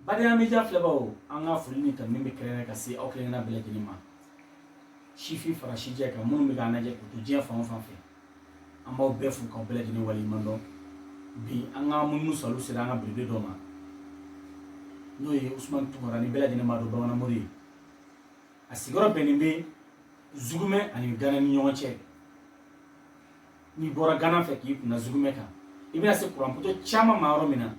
badenya media filɛbaaw an ka foli ni tanuni bɛ kɛrɛnkɛrɛn ka se aw kelen-kelenna bɛɛ lajɛlen ma sifin fara sijɛ kan minnu bɛ k'an lajɛ k'u to diɲɛ fan o fan fɛ an b'aw bɛɛ fo k'aw bɛɛ lajɛlen waleɲuman dɔn bi an ka munumunu saliw sera an ka belebele dɔ ma n'o ye usumani tunkara ni bɛɛ lajɛlen b'a dɔn bamananmori ye a sigiyɔrɔ bɛnnen bɛ zugumɛ ani gana ni ɲɔgɔn cɛ n'i bɔra gana fɛ k'i kunna zugumɛ kan i bɛna se kuranputo caman ma yɔrɔ min na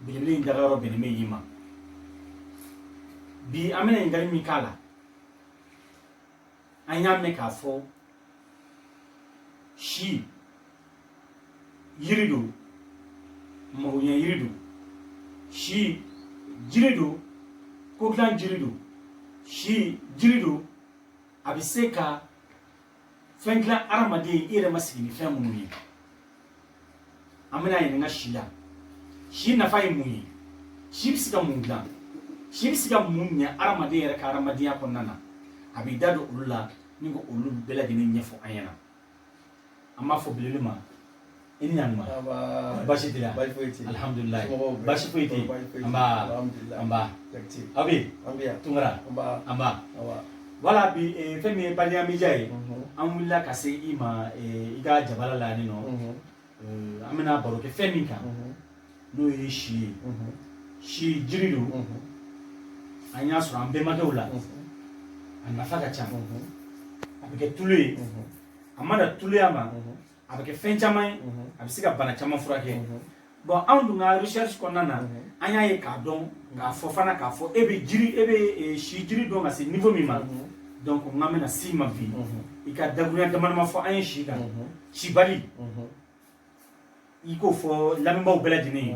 belebele in daga yɔrɔ bɛnnen bɛ yen ma bi an bɛna ɲininkali min k'a la an y'a mɛn k'a fɔ si yiri don magoɲɛ yiri don si jiri don ko dilan jiri don si jiri don a bɛ se ka fɛn dilan adamaden i yɛrɛ ma sigi ni fɛn minnu ye an bɛna ɲininka si la si nafa ye mun ye si bɛ se ka mun dilan si bɛ se ka mun ɲɛ adamaden yɛrɛ ka adamadenya kɔnɔna na a b'i da don olu la ni ko olu bɛɛ lajɛlen ɲɛfɔ an ɲɛna an b'a fɔ belebele ma i ni ɲantuma basi tɛ yan alihamudulila basi foyi tɛ yen anba anba aw bɛ yen tunkara anba wala bi fɛn min ye badenya media ye an wulila ka se i ma i ka jabala la ni nɔ an bɛna baro kɛ fɛn min kan n'o ye si ye si jiri don an y'a sɔrɔ an bɛnbakɛw la a nafa ka ca a bɛ kɛ tulu ye a ma dan tuluya ma a bɛ kɛ fɛn caman ye a bɛ se ka bana caman furakɛ bɔn anw dun ka recherche kɔnɔna na an y'a ye k'a dɔn k'a fɔ fana k'a fɔ e bɛ jiri e bɛ si jiri dɔn ka se niveau min ma donc n kan bɛna se i ma bi i ka dakuruɲa dama dama fɔ an ye si kan sabali i k'o fɔ lamɛnbaaw bɛɛ lajɛlen ye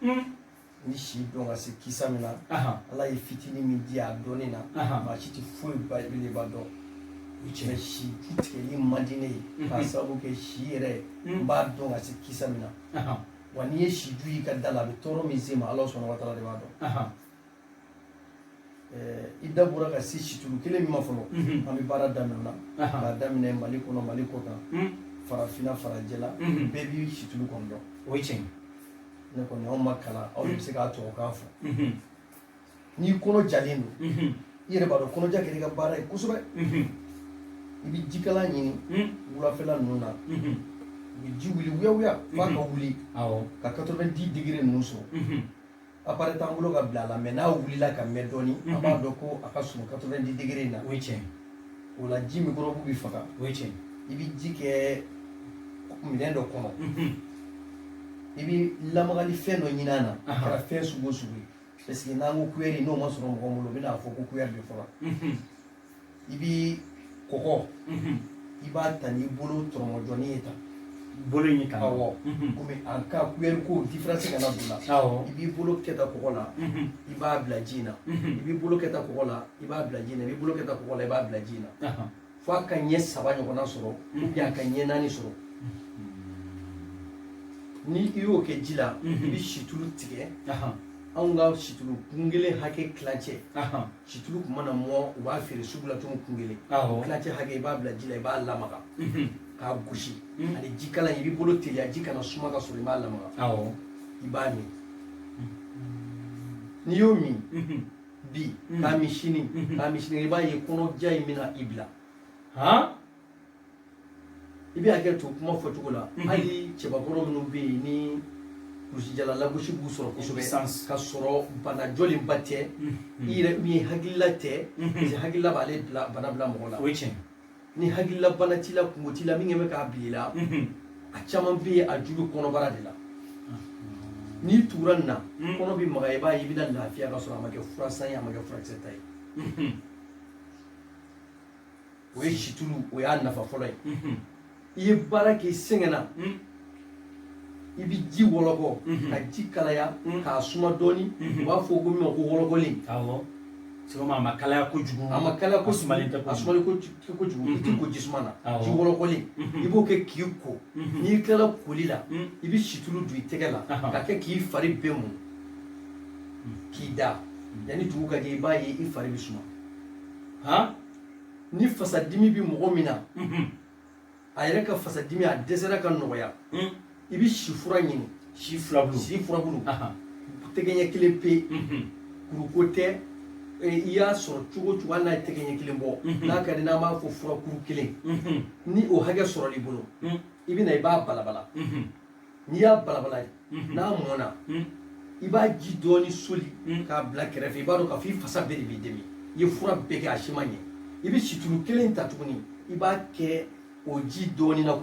ni si dɔn ka se kisa min na ala ye fitini min di a dɔnni na maa si tɛ foyi belebeleba dɔn o cɛ si ju tigɛli man di ne ye k'a sababu kɛ si yɛrɛ n b'a dɔn ka se kisa min na wa n'i ye si ju y'i ka da la a bɛ tɔɔrɔ min se n ma ala subahana wa taala de b'a dɔn i da bɔra ka se situlu kelen min ma fɔlɔ mhm. an bɛ baara daminɛ la k'a daminɛ mali kɔnɔ mali kɔ kan mhm. farafinna farajɛla mhm. bɛɛ bɛ situlu kɔni dɔn o ye tiɲɛ ne kɔni anw ma kalan aw de bɛ se k'a tubabukan fɔ n'i kɔnɔ jalen don i yɛrɛ b'a dɔn kɔnɔja kɛra i ka baara ye kosɛbɛ i bɛ jikalan ɲini wulafɛla ninnu na u bɛ ji wuli wuyawuya f'a ka wuli ka 90 digiri ninnu sɔrɔ apare t'an bolo ka bila a la mɛ n'a wulila ka mɛn dɔɔni an b'a dɔn ko a ka surun 90 degere in na o ye tiɲɛ o la ji mikɔrɔbu bɛ faga o ye tiɲɛ i bɛ ji kɛ minɛn dɔ kɔnɔ i bɛ lamagali fɛn dɔ ɲinin a na a kɛra fɛn sugu o sugu ye parce que n'an ko kuyɛri n'o ma sɔrɔ mɔgɔ bolo u bɛn'a fɔ ko kuyɛri de fɔra i bɛ kɔgɔ i b'a ta n'i bolo tɔrɔmɔjɔni ye tan bolo in kan awɔ komi an ka kuyɛri ko diferansi kana don a la awɔ i b'i bolo kɛ ta kɔgɔ la i b'a bila ji in na i b'i bolo kɛ ta kɔgɔ la i b'a bila ji in na i b'i bolo kɛ ta kɔgɔ la i b'a bila ji in na fo a ka ɲɛ saba ɲɔgɔnna sɔrɔ ubiyɛn a ka ɲɛ naani sɔrɔ ni i y'o kɛ ji la i bɛ situlu tigɛ anw ka situlu kun kelen hakɛ tilancɛ Situlu kun mana mɔ u b'a feere sugu la tun kun kelen tilancɛ hakɛ i b'a bila ji la i b'a lamaga k'a gosi ani jikalan i b'i bolo teliya ji kana suma ka sɔrɔ i b'a lamaga i b'a min n'i y'o min bi k'a min sini k'a min sini i b'a ye kɔnɔja in bɛna i bila i bɛ hakɛ to kuma fɔcogo la mhm. hali cɛbakɔrɔ minnu bɛ yen ni kulusijala lagosi b'u sɔrɔ kosɛbɛ ka sɔrɔ bana jɔlenba tɛ mhm. i yɛrɛ min ye hakilila tɛ mhm. parce que hakilila b'ale bana bila mɔgɔ la o ye tiɲɛ ni hakilila bana t'i la kunko t'i la min kɛ bɛ k'a bila i la a caman bɛ yen a ju bɛ kɔnɔbara de la n'i tugura nin na kɔnɔ bɛ magaya i b'a ye i bɛna lafiya ka sɔrɔ a ma kɛ fura san ye a ma kɛ furakisɛ ta ye o ye situlu o y'a nafa fɔlɔ ye i ye baara kɛ i sɛgɛnna i bɛ ji wɔlɔkɔ ka ji kalaya k'a suma dɔɔni u b'a fɔ ko min ma ko wɔlɔkɔlen sɛgɛma a ma kalaya kojugu a ma kalaya a sumalen tɛ a sumalen kojugu i t'i ko ji suma na ji wɔlɔkɔlen i b'o kɛ k'i ko n'i tilala koli la i bɛ situlu don i tɛgɛ la ka kɛ k'i fari bɛɛ mun k'i da yanni dugu ka jɛ i b'a ye i fari bɛ suma ni fasadimi bɛ mɔgɔ min na a yɛrɛ ka fasadimi a dɛsɛra ka nɔgɔya i bɛ si fura ɲini si furabulu tɛgɛɲɛ kelen pe kuruko tɛ i y'a sɔrɔ cogo o cogo hali n'a ye tɛgɛɲɛ kelen bɔ n'a ka di n'an b'a fɔ furakuru kelen ni o hakɛ sɔrɔl'i bolo i bɛ na i b'a balabala n'i y'a balabala mhm. n'a mɔna mhm. i b'a ji dɔɔni soli mhm. k'a bila kɛrɛfɛ i b'a dɔn k'a fɔ i fasa bɛɛ de b'i dimi i ye fura bɛɛ kɛ a si ma ɲɛ i bɛ situlu kelen ta tuguni i b'a kɛ o ji dɔɔni na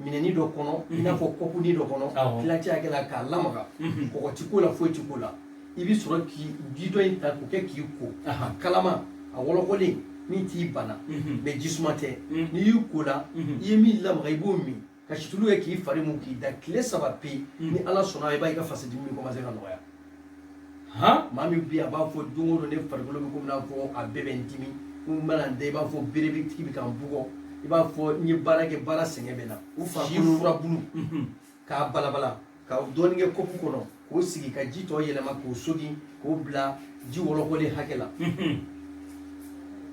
minɛni dɔ kɔnɔ i n'a fɔ kɔpuni dɔ kɔnɔ tilancɛ hakɛ la k'a lamaga kɔgɔ ti k'o la foyi ti k'o la i bɛ sɔrɔ ka ji tɔ in ta k'o kɛ k'i ko a kalama a wɔlɔkɔlen min t'i bana mɛ jisuma tɛ n'i y'i ko la i ye min lamaga i b'o min ka situlu kɛ k'i fari mun k'i da tile saba pe ni ala sɔnna i b'a ye i ka fasadimi bɛ kɔmanse ka nɔgɔya maa min bi a b'a fɔ don o don ne farikolo bɛ komi n'a fɔ a bɛɛ bɛ n dimi n mana n da i b'a fɔ berebatigi bɛ ka n bugɔ i b'a fɔ n ye baara kɛ baara sɛgɛn bɛ n na si furabulu k'a balabala ka dɔɔni kɛ kopu kɔnɔ k'o sigi ka ji tɔ yɛlɛma k'o sogin k'o bila ji wɔlɔkɔlen hakɛ la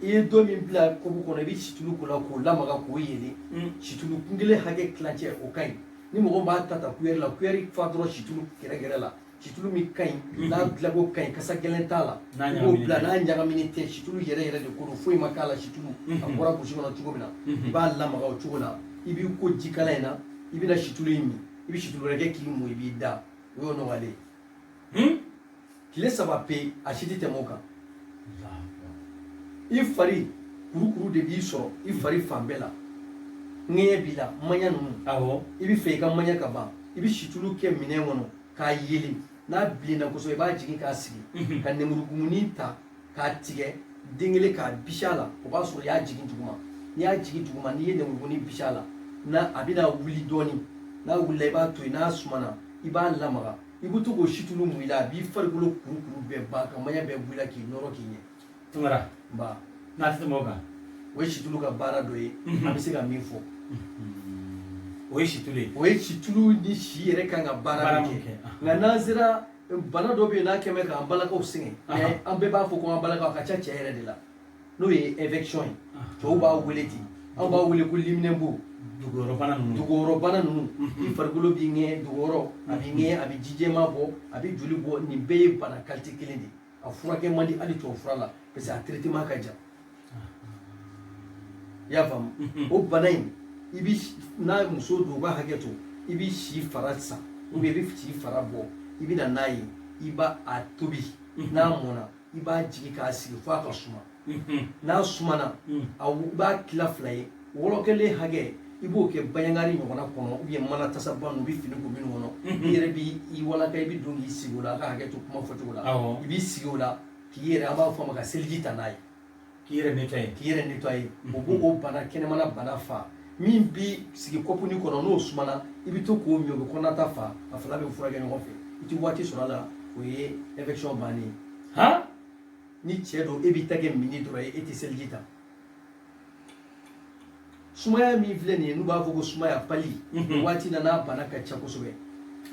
i ye dɔ min bila kopu kɔnɔ i bɛ situlu k'o la k'o lamaga k'o yelen mm. situlu kun kelen hakɛ tilancɛ o ka ɲi ni mɔgɔ b'a ta ta kuyɛri la kuyɛri fa dɔrɔn situlu gɛrɛgɛrɛ la situlu min ka ɲi mm-hmm. n'a dilanko ka ɲi kasa gɛlɛn t'a la i b'o bila n'a ɲagaminen tɛ situlu yɛrɛ yɛrɛ de ko don foyi ma k'a la situlu a mm-hmm. bɔra burusi kɔnɔ cogo min na mm-hmm. i b'a lamaga o cogo la i b'i ko jikalan in na i bɛna situlu in min i bɛ situlu wɛrɛ kɛ k'i mun i b'i da o y'o nɔgɔyalen ye tile saba pe a si tɛ tɛmɛ o kan i fari kurukuru de b'i sɔrɔ i fari fan bɛɛ la ŋɛɲɛ b'i la maɲa ninnu awɔ i bɛ fɛ i ka maɲa ka ban i bɛ situlu kɛ minɛn kɔnɔ k'a yelen n'a bilenna kosɛbɛ i b'a jigin k'a sigi ka nemurukumuni ta k'a tigɛ den kelen k'a bisi a la o b'a sɔrɔ i y'a jigin duguma n'i y'a jigin duguma n'i ye nemurukumuni bisi a la a bɛna wuli dɔɔni n'a wulila i b'a to yen n'a sumana i b'a lamaga i bɛ to k'o situlu mun i la a b'i farikolo kurukuru bɛɛ ban ka maɲa bɛɛ bɔ i la k'i nɔrɔ k'i ɲɛ. Tunkara nba n'a tɛ tɛmɛ o kan. o ye situlu ka baara dɔ ye mhm. an bɛ se ka min fɔ. Mhm. o ye situlu ye. o ye situlu ni si yɛrɛ kan ka baara min kɛ nka n'an sera bana dɔ bɛ yen n'a kɛ bɛ k'an balakaw sɛgɛn mais an bɛɛ b'a fɔ ko an balakaw a ka ca cɛ yɛrɛ de la n'o ye infection ye cɛw b'a wele ten anw b'a wele ko liminɛnbo dugukɔrɔbana ninnu i farikolo b'i ŋɛɲɛ dugukɔrɔ a b'i ŋɛɲɛ a bɛ ji jɛman bɔ a bɛ joli bɔ nin bɛɛ ye bana kalite kelen de ye a furakɛ man di hali tubabu fura la parce que a traitement ka jan i y'a faamu o bana in i bi n'a muso don u b'a hakɛ to i bi si fara san ou bien i bi si fara bɔ i bɛ na n'a ye i b'a a tobi n'a mɔna i b'a jigin k'a sigi f'a ka suma n'a sumana i b'a tila fila ye wɔlɔkɔlen hakɛ i b'o kɛ baignoire ɲɔgɔnna kɔnɔ ou bien mana tasaba ninnu u bɛ fini ko minnu kɔnɔ i yɛrɛ b'i walaka i bɛ don k'i sigi o la a ka hakɛ to kuma fɔcogo la i b'i sigi o la k'i yɛrɛ an b'a fɔ a ma ka seliji ta n'a ye k'i yɛrɛ nettoyer o b'o bana kɛnɛmana bana fa min bi sigi kɔpuni kɔnɔ n'o sumana i bɛ to k'o min o bɛ kɔnɔnata fa a fila bɛ furakɛ ɲɔgɔn fɛ i tɛ waati sɔrɔ a la o ye infection bannen ye han ni cɛ don e b'i ta kɛ minni dɔrɔn ye e tɛ seliji ta sumaya min filɛ nin ye n'u b'a fɔ ko sumaya pali mhm. waati na n'a bana ka ca kosɛbɛ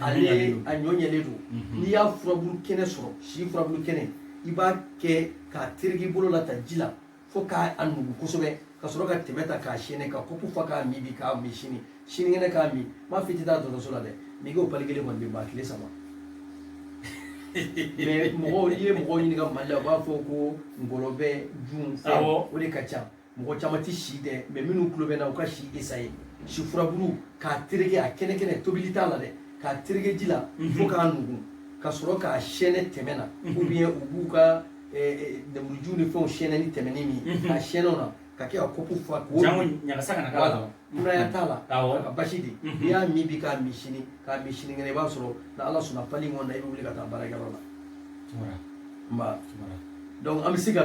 ale a ɲɔ ɲɛlen don mhm. n'i y'a furabulu kɛnɛ sɔrɔ si furabulu kɛnɛ i b'a kɛ k'a tereke i bolo la ta ji la fo k'a nugu kosɛbɛ ka sɔrɔ ka tɛmɛ ta k'a siyɛnɛ ka kopu fa k'a min bi k'a min sini sinikɛnɛ k'a min n m'a fɔ i tɛ taa dɔgɔtɔrɔso la dɛ n'i ko pali kelen kɔni bɛ ban tile saba mais mɔgɔw n'i ye mɔgɔw ɲininka mali la u b'a fɔ ko ngɔlɔbɛ jun fɛn o de ka ca mɔgɔ caman tɛ si dɔn mais minnu tulo bɛ n na u ka si essayer si furabulu k'a tereke a kɛnɛkɛnɛ tobili t'a la dɛ k'a tereke ji la fo k'a nugu ka sɔrɔ k'a siyɛnɛ tɛmɛ na ou bien u b'u ka lemuruji ni fɛnw siyɛnɛ ni tɛmɛni min a siyɛnɛ o na k'a kɛ ka kopu fa k'o jango ɲagasa kana k'a la kunaya t'a la a ka basi dɛ n'i y'a min bi k'a min sini k'a min sinikɛnɛ i b'a sɔrɔ ni ala sɔnna pali in kɔnɔna i bɛ wuli ka taa baarakɛyɔrɔ la nba donc an bɛ se ka